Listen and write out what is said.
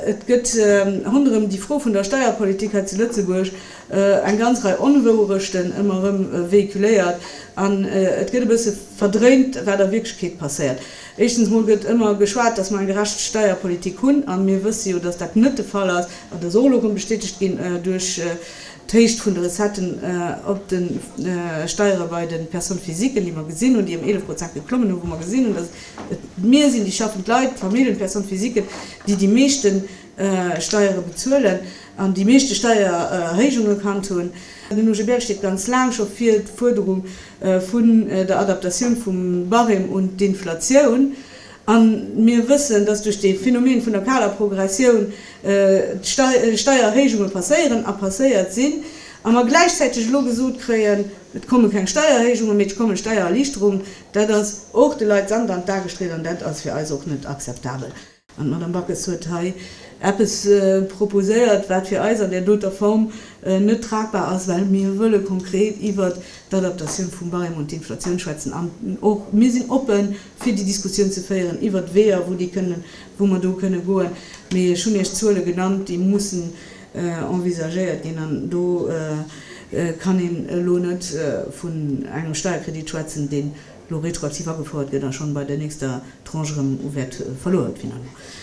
Et gëtt ronderëm déi Fro vun der Steierpolitik hei zu Lëtzebuerg eng ganz Rei Onwouerechten ëmmer erëm véhiculéiert an et gëtt e bësse verdréint, wat a Wierklechkeet passéiert. Éischstens mol gëtt ëmmer geschwat, datt mer eng gerecht Steierpolitik hunn, a mir wësse jo, datt dat net de Fall ass, an dat ass och elo erëm bestätegt ginn duerch d'Héicht vun de Recetten op de Steiere bei de Personnes physiquen, déi mer gesinn hunn, déi ëm eelef Prozent geklommen hunn, wou mer gesinn hunn, datt et Mir sinn déi schaffend Leit, d'Familljen, d'Personne physiquen, déi déi meeschte Steiere bezuelen an déi meeschte Steiererhéijung gekannt hunn. Den OGBL steet ganz laang scho fir d'Fuerderung vun der Adaptatioun vum Barème un d'Inflatioun. A mir wëssen, dass duerch dee Phänomen vun der kaler Progressioun Steiererhéijunge passéieren a passéiert sinn a mer gläichzäiteg elo gesot kréien, et komme keng Steiererhéijungen, mee et komme Steiererliichterungen. Dat ass och de Leit Sand an d'A gestriet an dat ass fir eis och net akzeptabel. An d'Madame Backes huet hei eppes proposéiert, wat fir eis an där doter Form net tragbar ass, well mir wëlle konkret iwwert d'Adaptatioun vum Barème un d'Inflatioun schwätzen an och mir sinn oppe fir déi Diskussioun ze féieren iwwert d'Weeër, wou mer do kënne goen. Mee ech hunn Iech d'Zuele genannt, déi mussen envisagéiert ginn, an do kann een elo net vun engem Steierkredit schwätzen, deen elo retroaktiv agefouert gëtt a schonn bei der nächster Tranche erëm u Wäert verluer huet finalement.